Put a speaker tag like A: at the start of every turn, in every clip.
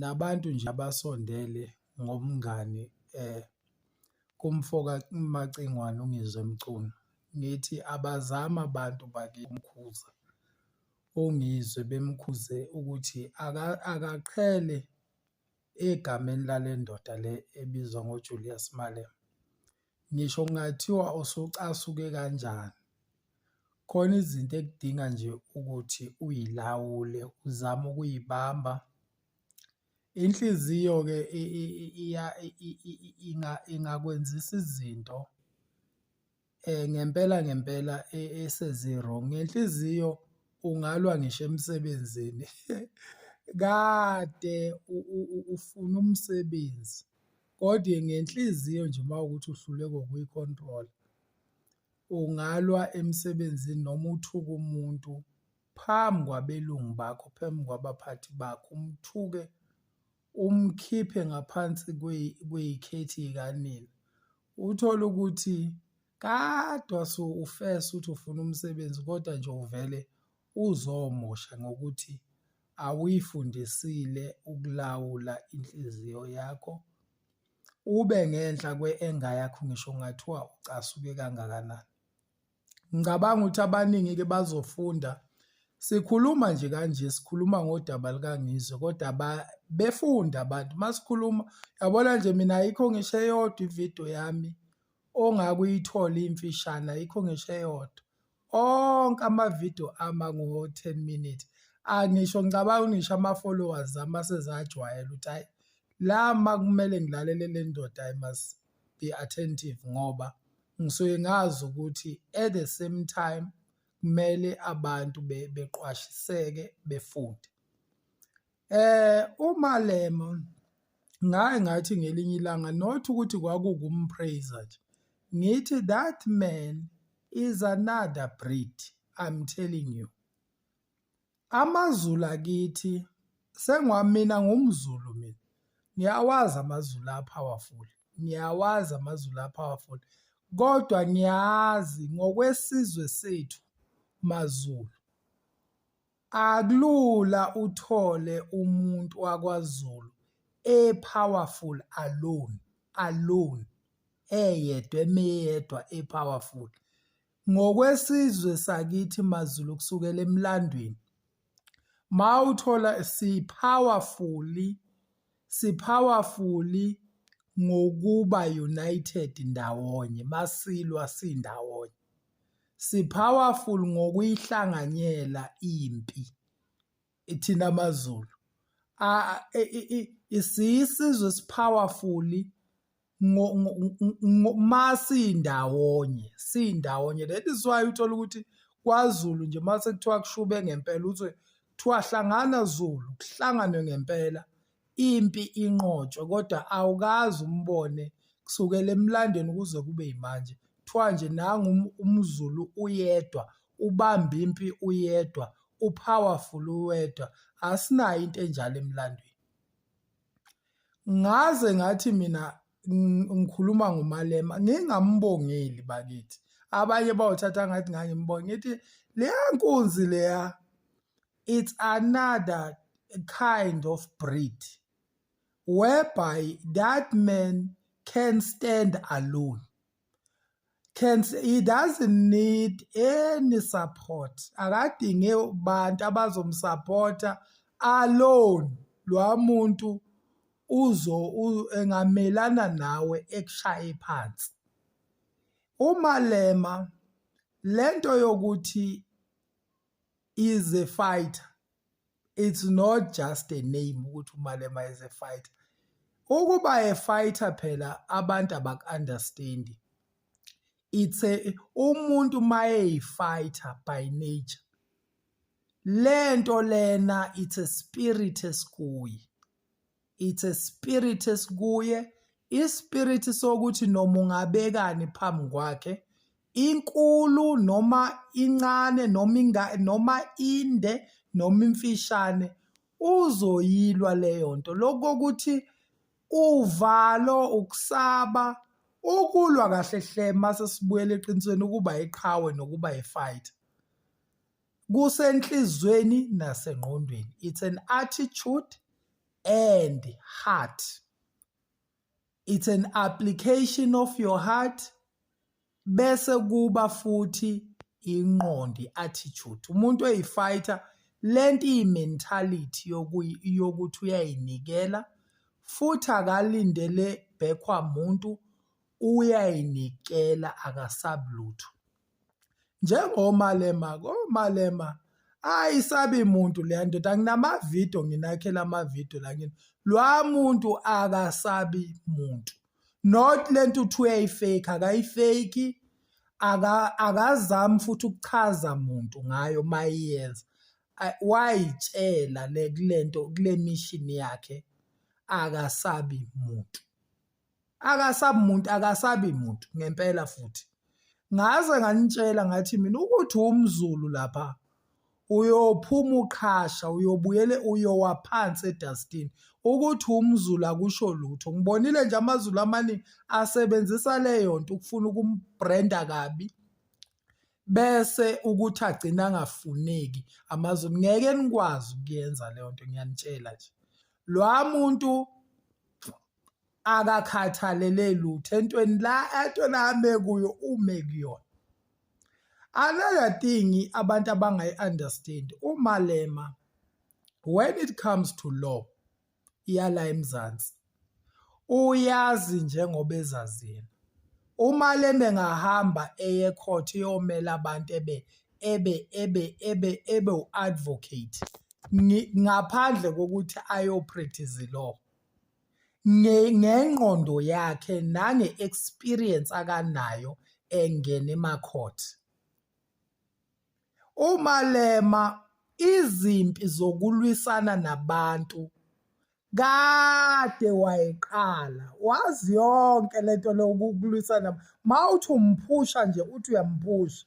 A: nabantu nje abasondele ngomngani kumfoka uMacingwane uNgizwe Mchunu, ngithi abazame abantu bakithi ukukhuza uNgizwe bemkhuze ukuthi akaqhele egameni lale ndoda le ebizwa ngoJulias Malema. Ngisho kungathiwa usucasuke kanjani, khona izinto ekudinga nje ukuthi uyilawule uzame ukuyibamba. Inhliziyo-ke ingakwenzisa izinto ngempela ngempela esezi-wrong. Ngenhliziyo ungalwa ngisho emsebenzini kade ufuna umsebenzi. Kodwa ngenhliziyo nje uma ukuthi uhluleka ukuyi-control, ungalwa emsebenzini noma uthuke umuntu phambi kwabelungu bakho, phambi kwabaphathi bakho, umthuke umkhiphe ngaphansi kweyikhethi yikanina. Uthole ukuthi kade wase ufesa ukuthi ufuna umsebenzi kodwa nje uvele uzomosha ngokuthi awuyifundisile ukulawula inhliziyo yakho ube ngenhla kwe-enga yakho ngisho kungathiwa ucasuke kangakanani ngicabanga ukuthi abaningi-ke bazofunda sikhuluma nje kanje sikhuluma ngodaba lukangizwe kodwa befunda abantu uma sikhuluma yabona nje mina ayikho ngisho eyodwa ividiyo yami ongakuyithola imfishane ayikho ngisho eyodwa onke amavidiyo ami angu-10 minute angisho ngicabanga ngisho ama-followers ami asezajwayela ukuthi hhayi la ma kumele ngilalele le ndoda i must be attentive ngoba ngisuke ngazi ukuthi at the same time kumele abantu beqwashiseke befunde Eh uMalema ngaye ngathi ngelinye ilanga not ukuthi kwakukumpraiser nje ngithi that man is another breed i'm telling you amazulu akithi sengwamina ngumzulu mina ngiyawazi amazulu apowerful ngiyawazi amazulu apowerful kodwa ngiyazi ngokwesizwe sethu mazulu Akulula uthole umuntu wakwaZulu e powerful alone alone eyedwa emeyedwa e powerful. Ngokwesizwe sakithi maZulu kusukela emlandweni mawuthola si powerfully si powerfully ngokuba united ndawonye masilwa sindawonye. si-powerful ngokuyihlanganyela impi ithina amaZulu isiyisizwe si-powerful uma siyindawonye siyindawonye that is why uthola ukuthi kwaZulu nje uma sekuthiwa kushube ngempela uthi kuthiwa hlangana Zulu kuhlanganwe ngempela impi inqotshwe kodwa awukazi umbone kusukela emlandweni kuze kube yimanje kuthiwa nje nangu um-, umzulu uyedwa ubamba impi uyedwa upowerful uwedwa asinayo into enjalo emlandweni ngaze ngathi mina ngikhuluma ngomalema ngingambongeli bakithi abanye bawuthatha ngathi ngangimbonga ngithi leya nkunzi leya it's another kind of breed whereby that man can stand alone can he doesn't need any support akadinge abantu abazomsupporta alone lwa muntu uzo engamelana nawe ekushaye phansi umalema lento yokuthi is a fighter it's not just a name ukuthi umalema is a fighter ukuba a fighter phela abantu abaku-understand it's a umuntu mayeyi-fighter by nature lento lena it's a spirit esikuyi it's a spirit esikuye ispirit sokuthi noma ungabekani phambi kwakhe inkulu noma incane noma inga noma inde noma imfishane uzoyilwa leyo nto lokho ukuthi uvalo ukusaba ukulwa kahle hle mase sibuyela eqinisweni ukuba iqhawe nokuba yifight kusenhlizweni nasengqondweni it's an attitude and heart it's an application of your heart bese kuba futhi inqondi attitude umuntu oyifighter lento imentality yokuyi yokuthi uyayinikela futhi akalindele bhekwa muntu uyayinikela akasabulutho njengomalema komalema ayisabi muntu leya ndoda nginamavidiyo nginakhela amavidiyo la ngini lwa muntu akasabi muntu not le nto uthi uyayifake akayifake akazami futhi ukuchaza muntu ngayo mayiyenza wayitshela le kulento kule mission yakhe akasabi muntu akasabi muntu akasabi muntu ngempela futhi ngaze nganitshela ngathi mina ukuthi umzulu lapha uyophuma uqhasha uyobuyele uyowa phansi edustini ukuthi umzulu akusho lutho ngibonile nje amazulu amaningi asebenzisa leyo nto ukufuna ukumbrenda kabi bese ukuthi agcina angafuneki amazulu ngeke nikwazi ukuyenza leyo nto ngiyanitshela nje lwa muntu akakhathalele lutho entweni la entweni ame kuyo ume kuyona another thing abantu abangayi-understand umalema when it comes to law iyala emzansi uyazi njengoba ezazini uma leme ngahamba eye court iyomela abantu ebe ebe ebe ebe ebe u-advocate ngaphandle kokuthi ayopractice law ngengqondo yakhe nange-experience akanayo engena ema-court. UMalema izimpi zokulwisana nabantu kade wayiqala wazi yonke lento lokulwisana mawuthi umphusha nje uthi uyamphusha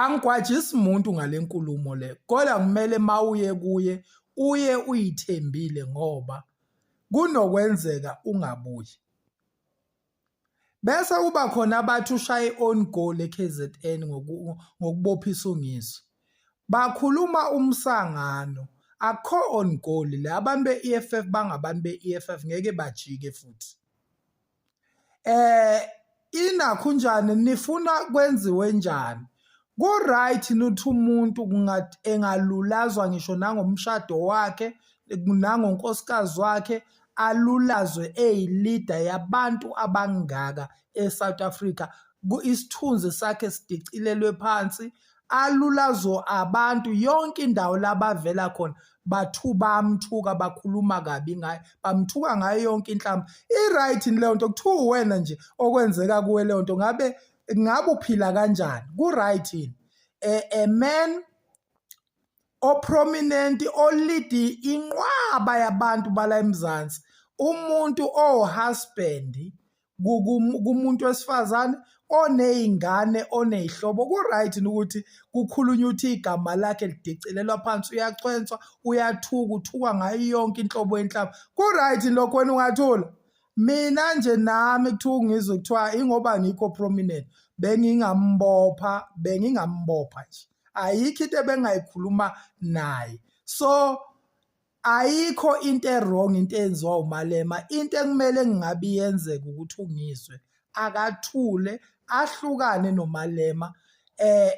A: angigwajisi muntu ngale nkulumo le kodwa kumele mawuye kuye uye uyithembile ngoba kunokwenzeka ungabuyi bese kuba khona abathi ushaye on goal eKZN ngokubophisa ungiso bakhuluma umsangano akho on goal la abantu beEFF bangabantu beEFF ngeke bajike futhi eh inakho njani nifuna kwenziwe njani ku-right nuthi umuntu engalulazwa ngisho nangomshado wakhe nangonkosikazi wakhe alulazwe eyilida yabantu abangaka e-south africa isithunzi sakhe sidicilelwe phansi alulazo abantu yonke indawo labavela khona bathu bamthuka bakhuluma kabi ngaye bamthuka ngayo yonke inhlamba i-right leyo nto kuthiwa uwena nje okwenzeka kuwe leyo nto ngabe ngabe uphila kanjani ku-right yini a man oprominent olidi inqwaba yabantu bala eMzansi umuntu owuhusband kumuntu wesifazane oneyingane oneyihlobo ku-right ukuthi kukhulunywe ukuthi igama lakhe lidicilelwa phansi uyachwenswa uyathuka uthukwa ngayo yonke inhlobo yenhlaba ku-right lokho wena ungathula mina nje nami kuthiwa ngizwe kuthiwa ingoba ngikho prominent bengingambopha bengingambopha nje ayikho into ebengayikhuluma naye so Ayikho into ewrong into eyenziwa uMalema into ekumele ngingabe iyenzeka ukuthi uNgizwe akathule ahlukane noMalema eh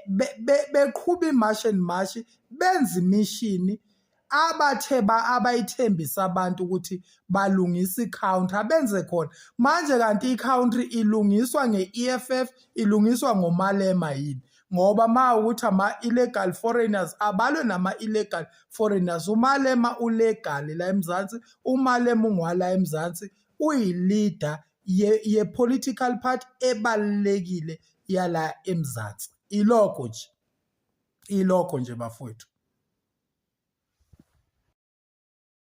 A: beqhuba imarch and march benza imishini abathe ba abayithembisa abantu ukuthi balungisa i-counter abenze khona manje kanti i-country ilungiswa nge-EFF ilungiswa ngomalema yini ngoba ma ukuthi ama-illegal foreigners abalwe nama-illegal foreigners umalema ulegal la emzansi umalema ungwala emzansi uyi-leader ye-political ye part ebalulekile yala emzansi ilokho nje ilokho nje bafowethu